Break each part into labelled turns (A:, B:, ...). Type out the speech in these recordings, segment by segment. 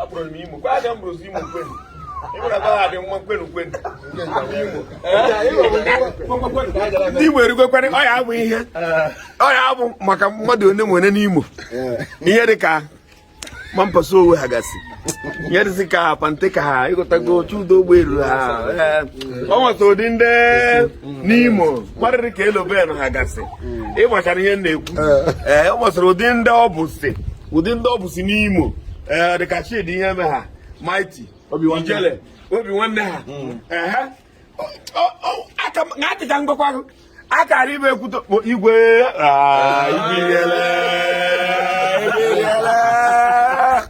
A: abụrụ m imo kwa aga m bụrụzi imo kwenu ịmụrụ ebe ha dị mma kwenu kwenu ndị imo erugokwana ọ ya abụ ihe ọ ya abụ maka mmadụ one e nwere n'imo ihe dị ka mampasa owe ha gasị ihe dịzị ka pante ka ha ịghọtago chudo ụgbọelu ha o nwesịrị ụdị ndị n'imo kwa dịrị ka eloben ha gasị hmm. ịgbachara ihe m na-ekwu ee eh. eh, ọ ụdị ndị ọ bụ si ụdị ndị ọ bụ si n'imo ee eh, dịka Chidi Iheme ha Mighty ijele obi nwanne ha hmm. atịcha ngwakwa akara ibe ekwuto igwe ah, igwe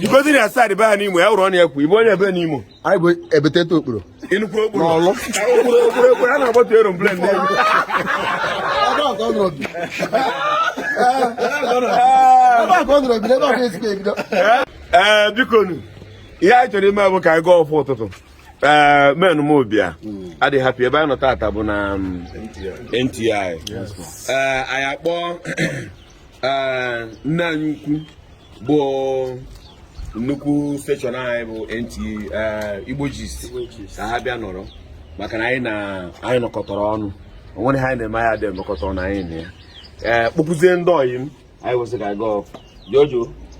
A: igozi na side be ha n'imo ya were ọnụ ya kwuo ibe onye ebe n'imo anyị bụ
B: ebetete okporo inukwu okporo
A: n'Ọlụ okporo okporo okporo a na-agbatu aeroplane n'elu ee biko nu ihe anyị chọrọ ime bụ ka anyị gaa ọfụ ụtụtụ ee men m obi adịghị happy ebe anyị nọ tata bụ na um, NTI ee anyị akpọ nne anyị ukwu bụ nnukwu steshọn anyị bụ NTA Igbo Gist ka ha bịa nọrọ maka na anyị na anyị nọkọtara ọnụ o nwere ihe anyị na-eme anyị eji nọkọta ọnụ anyị na ya kpọpụzie ndị ọyị m anyị wee sị ka anyị gaa ọfụ jojo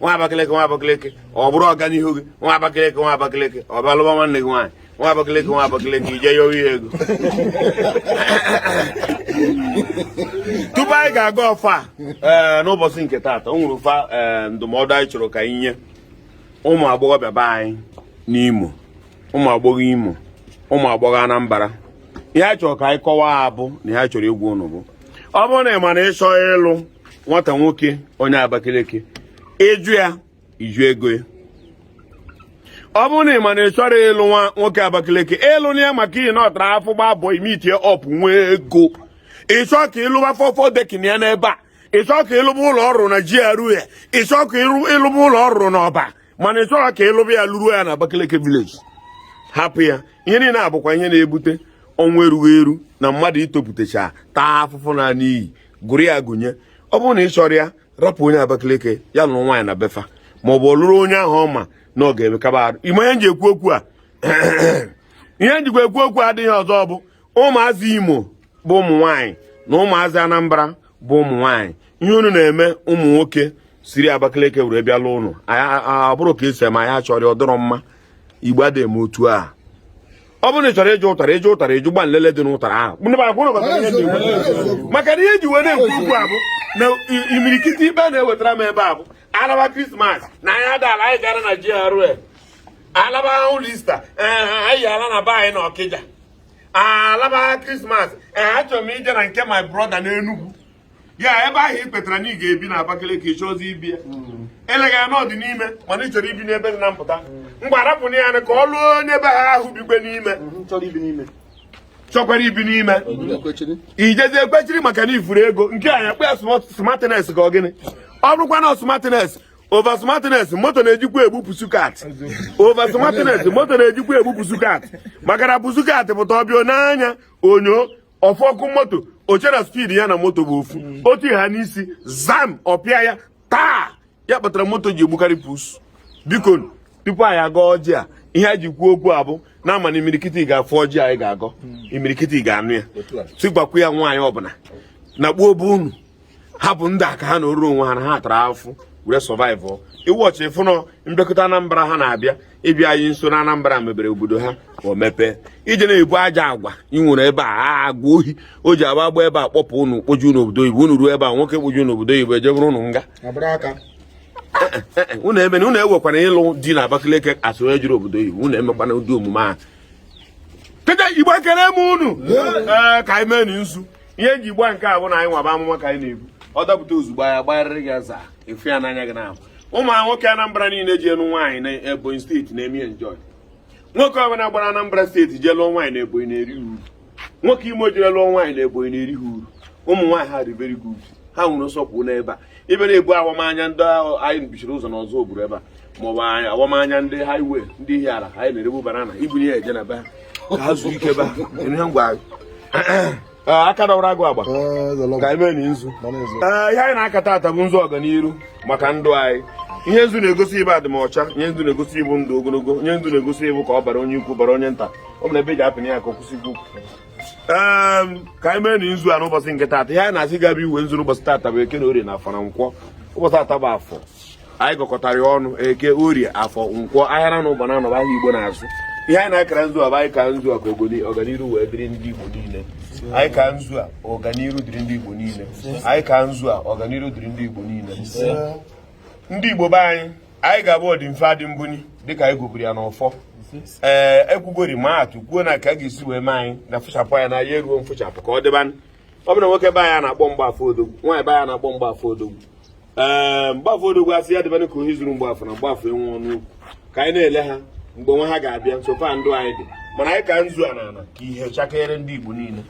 A: nwa Abakaliki nwa Abakaliki ọ bụrụ ọganihu gị nwa Abakaliki nwa Abakaliki ọ bịa lụwa nwanne gị nwaanyị nwa Abakaliki nwa Abakaliki ije ya oyi ego tupu anyị ga-aga ọfa ee eh, n'ụbọchị nke taata o nwere ụfa eh, ndụmọdụ anyị chọrọ ka anyị nye ụmụ agbọghọbịa be anyị n'Imo ụmụ agbọghọ Imo ụmụ agbọghọ Anambra ihe a chọrọ ka anyị kọwaa bụ na ihe a chọrọ ịgwa ụnụ bụ ọ bụrụ na ị ma na ịchọ ịlụ nwata nwoke onye Abakaliki ịjụ ya ịjụ ego ya ọ bụrụ na ị ma na ị chọrọ ịlụ nwa nwoke Abakaliki ịlụna ya maka ihi na ọ tara afụfụ gbaa mbọ meetie up nwee ego ịchọ ka ịlụba four four decking ya n'ebe a ịchọ ka ịlụba ụlọ ọ rụ na GRA ịchọ ka ịlụba ụlọ ọ rụ n'Ọba mana ị chọrọ ka ịlụba ya lụruo ya na Abakaliki village hapụ ya ihe niile abụkwa ihe na-ebute ọnwụ erughị eru na mmadụ itopụtacha taa afụfụ na n'iyi gụrụ ya gụnye ọ bụrụ na ị chọrọ ya rapụ onye Abakaliki ya lụrụ nwaanyị na be fa ma ọ bụ ọ lụrụ onye ahụ ọ ma na ọ ga-emekaba arụ ị ma ihe nji ekwu okwu a ihe njikwa ekwu okwu adịghị ọzọ bụ ụmụazị Imo bụ ụmụ nwaanyị na ụmụazị Anambra bụ ụmụ nwaanyị ihe unu na-eme ụmụ nwoke siri Abakaliki were bịa lụọ ụnụ abụrọ ka e si eme anyị achọrọ ya ọ dịrọ mma igbo adịghị eme otu a ọ bụrụ na ị chọrọ ịjụ ụtara ịjụ ụtara ịjụ gba nlele dị n'ụtara ahụ maka na ihe ji wee na-ekwu okwu a bụ na imirikiti ikpe na-ewetara m ebe a bụ alaba krismas na anyị adaala anyị ga-ala na GRA alaba ụlọ ista anyị ala na be anyị na ọkịja alaba krismas achọrọ m ije na nke my brother n'Enugu ya ebe ahụ ị kwetara na ị ga-ebi na Abakaliki chọzi ibi ya hmm. eleghị ya na ọ dị n'ime mana ị chọrọ ibi n'ebe dị na mpụta mgbe arapụna ya ka ọ lụọ onye be ha ahụ bikwe n'ime hmm, chọkwara ibi n'ime i jezie kwechiri maka na ị fụrụ ego nke a ya kpe ya smartness ka ọ gịnị ọ bụrụkwa na smartness over smartness moto na-ejikwa egbu pussycat over smartness moto na-ejikwa egbu pussycat maka na pussycat pụta ọ bịa n'anya onyo ọ fụ ọkụ moto o chee na speed ya na moto bụ ofu mm. otu ha n'isi zam ọ pịa ya taa ya kpatara moto ji egbukarị pus biko tupu anyị agọ ọjị a ihe a ji kwuo okwu a bụ na a ma na imirikiti ga-afụ ọjị anyị ga-agọ mm. imirikiti ga-anụ ya si gwakwu ya nwaanyị ọbụla na kpuo obe unu hapụ ndị a ka ha nọọrọ onwe ha na ha tara afụfụ were survive iwu ọchị fụnọ mbekọta anambra ha na-abịa ịbịa anyị nso na anambra mebere obodo ha ka o mepee i jee na-ebu ajọ agwa ị nwere ebe a agwa ohi o ji agba agba ebe a kpọpụ unu kpoju n'obodo oyibo unu ruo ebe a nwoke kpoju n'obodo oyibo eje buru unu nga unu eme na unu ewekwana ịlụ di na Abakaliki a sị onye jụrụ obodo oyibo unu emekwana ụdị omume ahụ kede igbo ekele m unu ka anyị mee nzu ihe e ji gbaa nke a bụ na anyị nwaba amụma ka anyị na-ebu ọ dapụta ozugbo anya gbagharịrị gị aza efu ya n'anya gị na-abụ ụmụ nwoke Anambra niile jee lụọ nwaanyị na Ebonyi steeti na-eme enjoy nwoke ọbụla gbara Anambra steeti jee lụọ nwaanyị na Ebonyi na-eri uru nwoke Imo jere lụọ nwaanyị na Ebonyi na-eri ha uru ụmụ nwaanyị ha dị very good ha nwere nsọpụrụ n'ebe a ibe na-ebu awamanya ndị ahụ anyị bichiri ụzọ n'Ọzụbụlụ ebe a maọbụ awamanya ndị highway ndị Ihiala anyị na-erebu banana ibuli ya eje na be ha ka ha zuo ike be ha ihe ngwa ah, aka dọwara agụ agba eh, ka anyị meenụ nzu eh, ihe anyị na-aka taata bụ nzu ọganiru maka ndụ anyị ihe nzu na-egosi bụ adịmọcha ihe nzu na-egosi bụ ndụ ogologo ihe nzu na-egosi bụ ka ọ baara onye ukwu baara onye nta ọ bụ na ebe e ji apịna ya ka ọ kwụsị ikwu ka anyị meenụ nzu a n'ụbọchị nke taata ihe anyị na-asị gaba iwe nzu n'ụbọchị taata bụ eke na orie na afọ na nkwọ ụbọchị taata bụ afọ anyị gọkọtara ya ọnụ eke orie afọ nkwọ ahịa na ụba na anọ bụ ahịa igbo na-azụ ihe anyị na-akara nzu a bụ anyị ka nzu a ka ọganiru wee dịrị ndị igbo niile anyị ka nzu a ọganiru dịrị ndị igbo niile anyị ka nzu a ọganiru dịrị ndị igbo niile ndị igbo be anyị anyị ga-abụ ọdịmfe adị mbuni dịka anyị gọburu ya n'ọfọ ee eh, ekwugori ma atụ kwuo na ka a ga-esi wee mee anyị na fụchapụ anya na ya eruo mfụchapụ ka ọ dịba ọ bụrụ nwoke be anyị na-akpọ mgbafọ odogwu nwaanyị be anyị na-akpọ mgbafọ odogwu ee eh, mgbafọ odogwu asị ya dịbanụ ka ohi zuru mgbafọ na mgbafọ enwe ọnụ okwu ka anyị na-ele ha mgbe nwa ha ga-abịa nsofa ndụ anyị dị mana anyị ka nzu a n'ala ka ihe chakeere ndị Igbo niile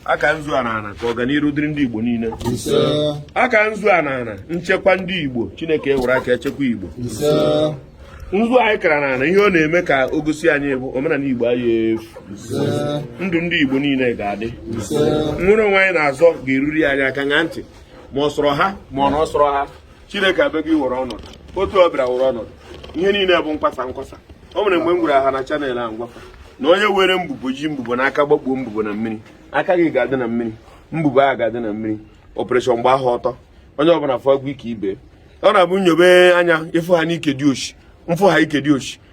A: aka nzu a n'ana ka ọganiru dịrị ndị Igbo niile aka nzu a n'ana nchekwa ndị Igbo Chineke ewere aka echekwa Igbo nzu anyị kara n'ana ihe ọ na-eme ka o gosi anyị bụ omenala Igbo a ya efu ndụ ndị Igbo niile ga-adị nwere onwe anyị na-azọ ga-eruri anyị aka ṅaa ntị ma ọ sọrọ ha ma ọ na ọ sọrọ ha chineke abịago iwere ọnọdụ otu ọ bịara were ọnọdụ ihe niile bụ nkwasa nkwasa o nwere mgbe m gwara ha na channel a m gwa fa na onye were mbubo ji mbubo n'aka gbakpuo mbubo na mmiri aka gị ga-adị na mmiri mbubo ahụ ga-adị na mmiri operation gba ahụ ọtọ onye ọbụla afụgwo ike ibe ọ na-abụ nyobe anya ịfụ ha n'ike dị oshi mfụ ha ike dị oshi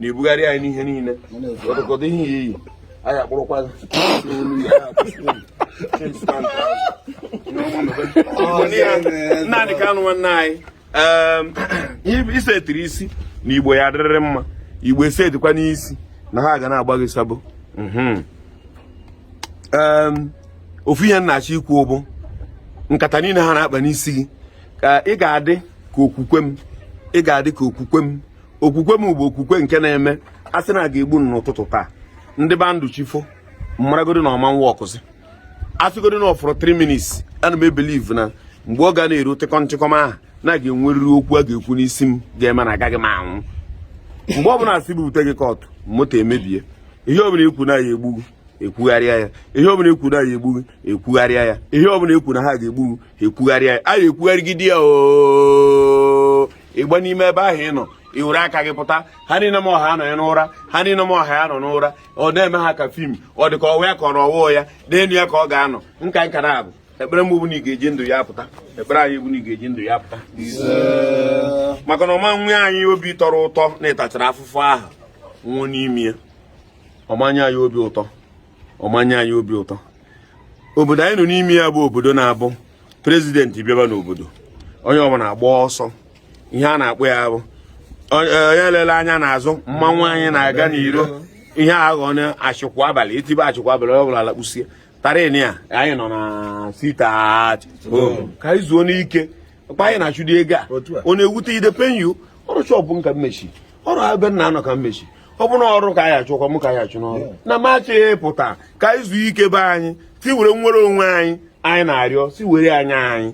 A: na-ebugharị anyị n'ihe niile ọdụkọdụ ihe ya iyi anyị akpụrụkwa Nnamdi Kanu nwanne anyị isetiri isi na igbo ya adịrịrị mma igbo esetikwanụ isi na ha ga na-agba gị sabo mhm. ofu ihe m na-achọ ikwu bụ nkata niile ha na-akpa n'isi gị ka ị ga-adị ka okwukwe m ị ga-adị ka okwukwe m okwukwe m bụ okwukwe nke na-eme a sị na a ga-egbu m n'ụtụtụ taa m dịba ndụ chi fo m maragodi na ọ mụwa ọkụzi asịgodi na ọfọrọ 3 minutes ana m ebelieve na mgbe ọ ga na-eru tịkọm tịkọm ahụ na a ga-enwerịrị okwu a ga-ekwu n'isi m ga-eme na agaghị m anwụ mgbe ọ bụla asị bute gị kọtụ moto emebie ihe ọbụla ekwu na ya egbu gị ekwugharịa ya ihe ọbụla ekwu na ya egbu gị ekwugharịa ya ihe ọbụla ekwu na ha ga-egbu gị ekwugharịa ya a ga-ekwugharịgide ya oo ịgba n'ime ebe ahụ ị nọ ị were aka gị pụta ha niile m ọha anọghị n'ụra ha niile m ọha ya nọ n'ụra ọ na-eme ha ka fim ọ dị ka ọwa ya ka ọrọ ọwụọ ya n'elu ya ka ọ ga-anọ nka nkara abụ ekpere m bụ na ị ga-eji ndụ apụta ekpere anyị bụ na ị ga-eji ndụ apụta maka na ọ ma nye anyị obi tọrọ ụtọ na ị tachara afụfụ ahụ nwụọ n'ime ya ọ ma nye anyị obi ụtọ ọ ma nye anyị obi ụtọ obodo anyị nọ n'ime ya bụ obodo na-abụ prezidenti bịaba n'obodo onye ọbụla agba ọsọ ihe a na-akpọ ya bụ onye elela anya n'azụ mmanwụ anyị na-aga n'iro ihe a ghọ na achịkwụ abalị etibe achịkwụ abalị onye ọ bụla alakpusie tarin ya anyị nọ na sita ka anyị zuonụ ike ọkpa anyị na-achụdi ego a ọ na-ewute ide penyu ọrụ chọpụ nka mmechi ọrụ ebe nna anọ ka m mechi ọ bụ na ọrụ ka anyị achụkwa m ka anyị achụ n'ọrụ na m achọghị ịpụta ka anyị zuo ike be anyị si were nwere onwe anyị anyị na-arịọ si were anyị anyị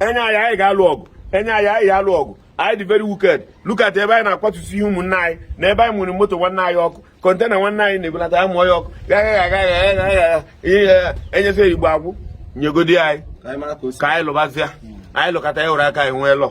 A: enye anyị anyị ga-alụ ọgụ enye anyị anyị ga-alụ ọgụ anyị dị very wicked look at ebe anyị na-akwatusi ihe ụmụnne anyị na ebe anyị nwere moto nwanne anyị ọkụ kọntena nwanne anyị na-ebulata ya mụọ ya ọkụ e nyesịa Igbo akwụ nyegodi anyị ka anyị lụbazịa anyị lụkọta ya were aka anyị nwee lọ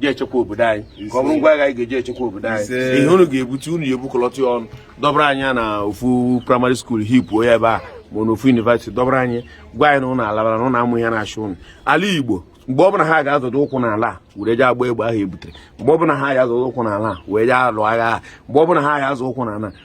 A: ji echekwa obodo anyị ka ọ bụrụ ngwa agha anyị ga-eji echekwa obodo anyị ihe unu ga-ebute unu ya ebukọlọta ya ọnụ dọbara anyị na ofu primary school hipuo ya ebe a ma na ofu university dọbara anyị gwa anyị na ụnụ alabara na ụnụ amụ ihe na-achụ ụnụ ala Igbo mgbe ọbụla ha ga-azọdo ụkwụ n'ala were jee agba egbe ahụ e butere mgbe ọbụla ha ga-azọdo ụkwụ n'ala wee jee alụ agha mgbe ọbụla ha ga-azọ ụkwụ n'ala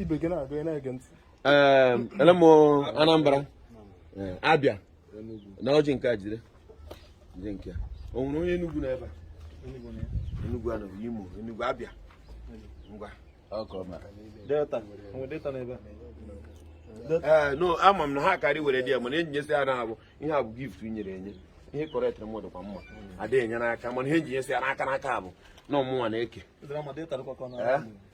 A: ibe gị na-agụ ya na-ege ntị ele m Anambra eh, Abịa na ọjị nke a jide jide nke o nwere onye Enugu nọ ebe a Enugu anọ Imo Enugu Abịa ngwa Delta Delta nọ ebe a ee eh, no ama m na ha karị were di ya mana ihe m ji nyesi ya na ọ bụ ihe a bụ gift e nyere enye ihe kọrọ etere mmadụ kwa mma adịghị enye n'aka mana ihe m ji nyesi ya n'aka n'aka bụ na ọ mụnwa na-eke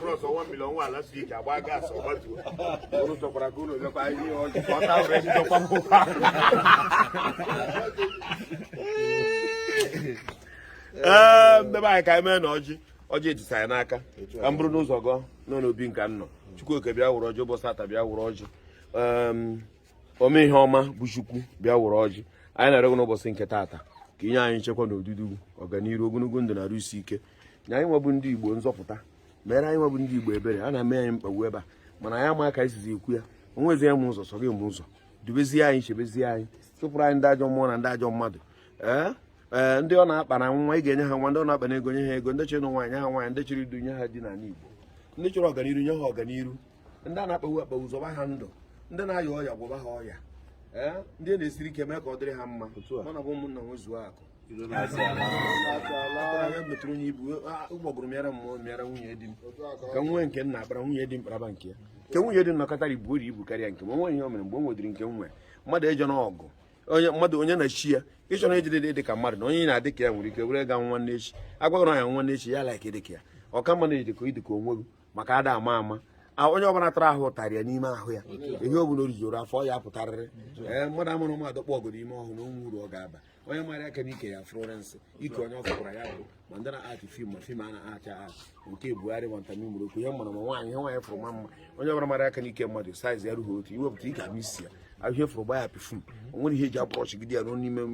A: Cross one million nwa last week agba gas ọ gbatuo unu chọkwara ka unu lekwa ihe ọjị ka ọ ta were ndị chọkwa m ụkwa ee ndị be anyị ka anyị mee na ọjị ọjị etisa anyị n'aka ka m buru ụzọ gọọ nọ n'obi nka m nọ Chukwuoke bịa wụrụ ọjị ụbọchị taa bịa wụrụ ọjị Em, ome ihe ọma bụ Chukwu bịa wụrụ ọjị anyị na-arịọ gị n'ụbọchị nke taata ka i nye anyị nchekwa na odudu ọganiru ogologo ndụ na arụ isi ike nye anyị nwa bụ ndị Igbo nzọpụta meere anyị nwa bụ ndị Igbo ebere a na-eme anyị mkpagbu ebe a mana anyị ama ka anyị sizi ekwu ya o nwezi onye ma ụzọ sọ gị ma ụzọ dubezie anyị chebezie anyị chụpụrụ anyị ndị ajọ mmụọ na ndị ajọ mmadụ ee ee ndị ọ na-akpa na nwa ị ga-enye ha nwa ndị ọ na-akpa na ego nye ha ego ndị chọrọ nwaanyị nye ha nwaanyị ndị chọrọ di nye ha di n'ala Igbo ndị chọrọ ọganiru nye ha ọganiru ndị a na-akpagbu akpagbu zọba ha ndụ ndị na-aya ọya gwọba ha ọya ee ndị na-esiri ike mee ka ọ dịrị ha mma mana bụ ụmụnna nwezuo akụ metụrụ onye ibu ụgbọgụrụ mịara mụ mịara nwunye di m ka m nwee nke m na-akpara nwunye di m kparaba nke ya nke nwunye di m nọkọtara ibu ori ibu karịa nke m o nwe ihe o mere mgbe o nwedịrị nke m nwe mmadụ ejọ na ọgụ onye mmadụ onye na chi ya ị chọ na ejide dị ka mmadụ na onye na-adị ka ya nwere ike were ga nwa n'echi agwaghị na ya nwa n'echi ya like dị ka ya ọ ka mma na ị dị ka ị dị ka onwe gị maka ada ama ama onye ọbụla tara ahụ ụtarị ya n'ime ahụ ya ihe ọ bụla o rijuru afọ ya pụtarịrị ee mmadụ amụrụ mmadụ kpọ ọgụ n'ime ọhụrụ na o nwe uru ọ ga-aba
B: onye mara aka n'ike ya Florence ike onye ọ fụkwara ya bụ ma ndị na-acti film ma film a na-act act nke Buhari ma ntami mụrụ okwu ihe mara mma nwaanyị ihe nwaanyị fụrụ ma mma onye ọbụla mara aka n'ike mmadụ size ya rughi otu i wepụta ị ga-ama isi ya ahụ ihe fụrụ gba ya perfume o nwere ihe e ji abụrọchi gide ya ruo n'ime